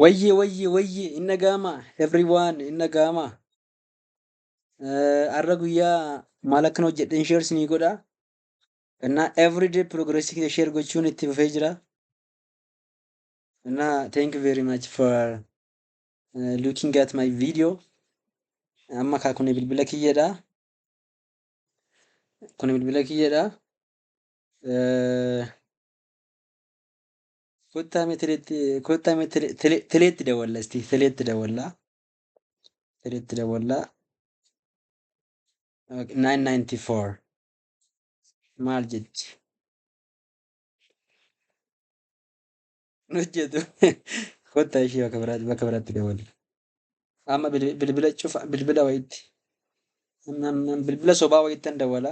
Wayyee wayyee wayyee hin dhaga'amaa everyone hin dhaga'amaa har'a guyyaa maal akkan hojjedhe hin sheers ni godha innaa everyday progress kee sheer gochuun itti fufee jira innaa thank you very much for uh, looking at my video amma kaa kun bilbila kiyyadha kun bilbila kiyyadha uh, Kottaa mee teleetti kottaa mee tele- tele- teleetti dawalla isti teleetti dawalla teleetti dawalla 994 maal jetti hin hojjetu kottaa ishee bakka biraatti bakka biraatti dawalla amma bil- bilbila cufa bilbila wayitti amma amma bilbila sobaa wayittan dawala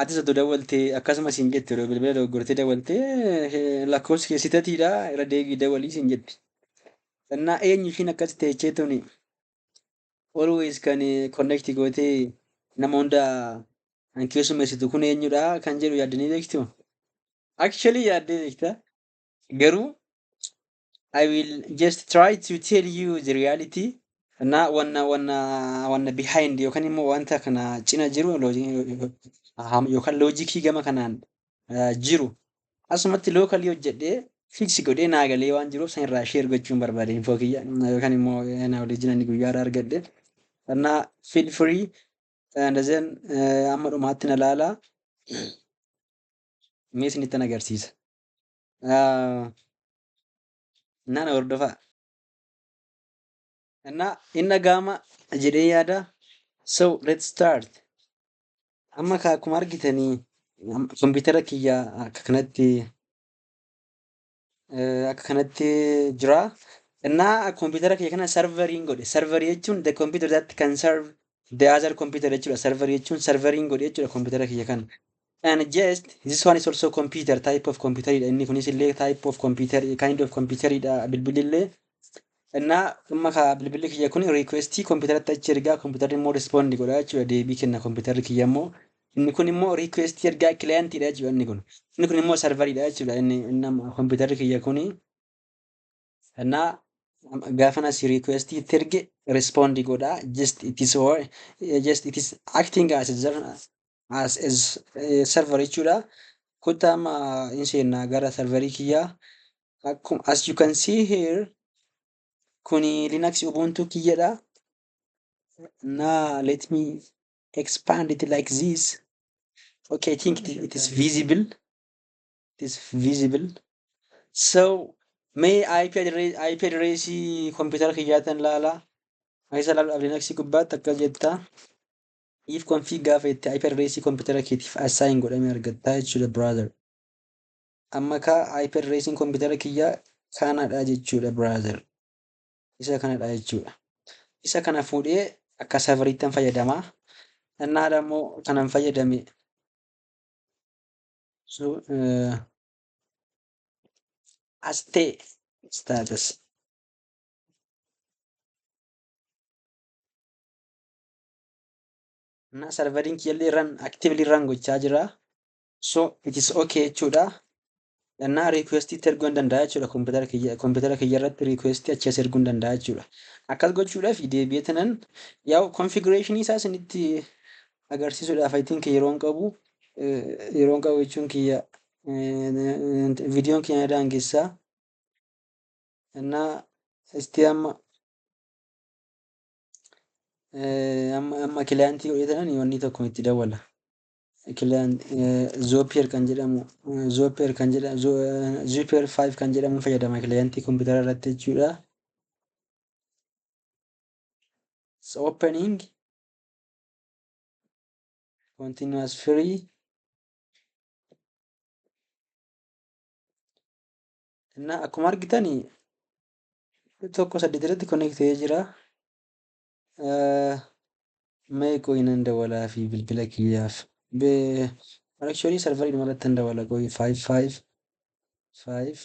Atis otoo dawwaltee akkasuma siin jetti yeroo bilbila dogoggortee dawwaltee lakkoofsi kee sitatiidha irra deebii dawwalii siin jetti. Sannaa eenyu ishiin akkas teechee tuni always kan connect gootee nama hunda kan keessummeessitu kun eenyudha kan jedhu yaaddanii beektu. Actually yaaddee beekta garuu I will just try to tell you the reality. Na wanna wanna wanna behind yookaan immoo wanta kana cina jiru yookaan loojikii gama kanaan jiru asumatti lookalii hojjedhee fiiksi godhee naa galee waan jiruuf san irraa sheer gochuun barbaade infoo kiyya yookaan immoo naa waliin ani guyyaa irraa argadhe. Na feel free and then amma dhumaatti na laala. Mee isinitti agarsiisa. Ah, Innaa na hordofaa. Innaa hin dhaga'ama jedhee yaada. So let's start. Amma ka- akkuma argitanii am- kompiitara kiyya akka kanatti eh, akka kanatti jira. Innaa kompiitara kiyya kana sarveriin godhe. Sarverii jechuun the computer that can serve the other computer jechuudha. Sarverii jechuun sarveriin godhe jechuudha kompiitara kiyya kana. And just this one is also computer type of computer dha inni kunis illee type of computer kind of computer dha bilbilli illee innaa amma ka bilbilli kiyya kun requestii kompiitaratti achi ergaa kompiitarri immoo respond godha jechuudha deebii kenna kompiitarri kiyya immoo inni kun immoo requestii ergaa client dha jechuudha inni kun inni kun immoo server dha jechuudha inni inni amma kompiitarri kiyya kun Sana gaafa na si request itti erge respond godha just it is or just it is acting as a, zer- as a s- eh, server jechuudha. Kottaa amma hin seenna gara serverii kiyyaa. Akkuma as you can see here kuni Linux Ubuntu kiyyadha. Now let me expand it like this. Okay, I think it, it is visible. it is visible so mee IP address IP address computer kiyyaatan laala isa laalu dhabde next gubbaatti akkas jetta if config gaafa itti IP address computer keetiif assign godhame argatta jechuudha brother amma ka IP address computer kiyyaa kanadha jechuudha brother isa kanadha jechuudha isa kana fuudhee akka serveriittan fayyadama Annaa immoo kanan fayyadame So, uh, Aste status. Na serverin kiyallee run actively run gochaa jira. So it is okay jechuudha. Gannaa request itti erguu hin danda'a jechuudha. Kompiitara kiyya kompiitara kiyya irratti request achi as erguu hin danda'a jechuudha. Akkas gochuudhaaf deebi'eetinan yaa'u configuration isaa isinitti agarsiisuudhaaf I think yeroon qabu eh, yeroon qabu jechuun kiyya eh, viidiyoon kiyya na daangessaa innaa isti amma eh, amma amma kilaantii godhee tanan wanni tokko itti dawwala kilaan zoopiyer kan jedhamu zoopiyer kan jedhamu zoopiyer 5 kan jedhamu fayyadama kilaantii kompiitara irratti jechuudha it's opening continuous free እና akkuma argitan tokko saddeet irratti connect ta'ee jira. Mee qoyi nan dawalaa fi bilbila kiyyaaf. Actually sarvarii dhuma irratti nan dawala qoyi 5 5 5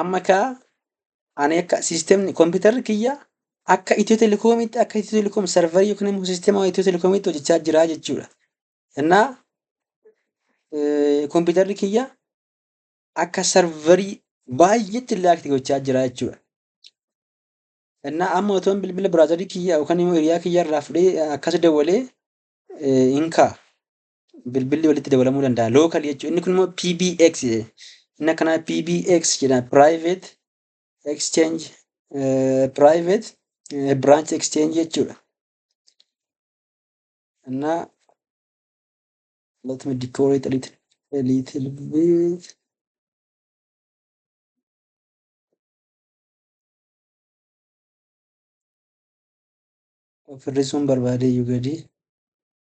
Amma kaa ani akka siistemni kompiitarri kiyya akka Itiyoo Telekoomiitti akka Itiyoo Telekoom sarvarii yookiin immoo siistema Itiyoo Telekoomiitti hojjechaa jira jechuudha. Innaa kompiitarri kiyya akka sarvarii baay'eetti illee akti gochaa jira jechuudha. Innaa amma otoon bilbila biraazarii kiyya yookaan immoo hiriyaa kiyya irraa fudhee akkas dawwalee hin ka'a. bilbilli walitti dabalamuu danda'a local jechuun inni kun immoo PBX jedhe. inni akkanaa PBX jedha private exchange eh, private eh, branch exchange jechuudha እና let me decorate a little, a little bit of hir'isuun barbaadee iyyuu gadi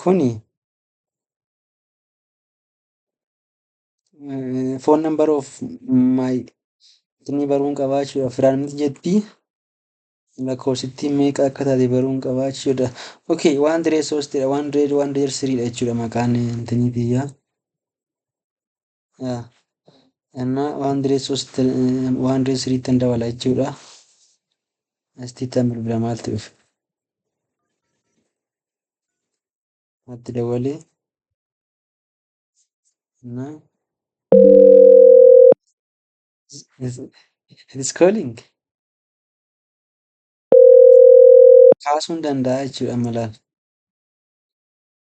Kuni foon nan baroof maayitinii baruun qabaa jechuudha. Firaan miti jetti lakkoofsittii meeqa akka taate baruun qabaa jechuudha. Okay, waan diree soostidha. Waan diree waan diree siriidha jechuudha maqaan intinii biyyaa. yaa ennaa waan diree soosti waan diree siriittan dabala jechuudha astiittan bilbila maalti dhufe matti dawwalee ennaa it is calling kaasuun danda'a jechuudha amma laal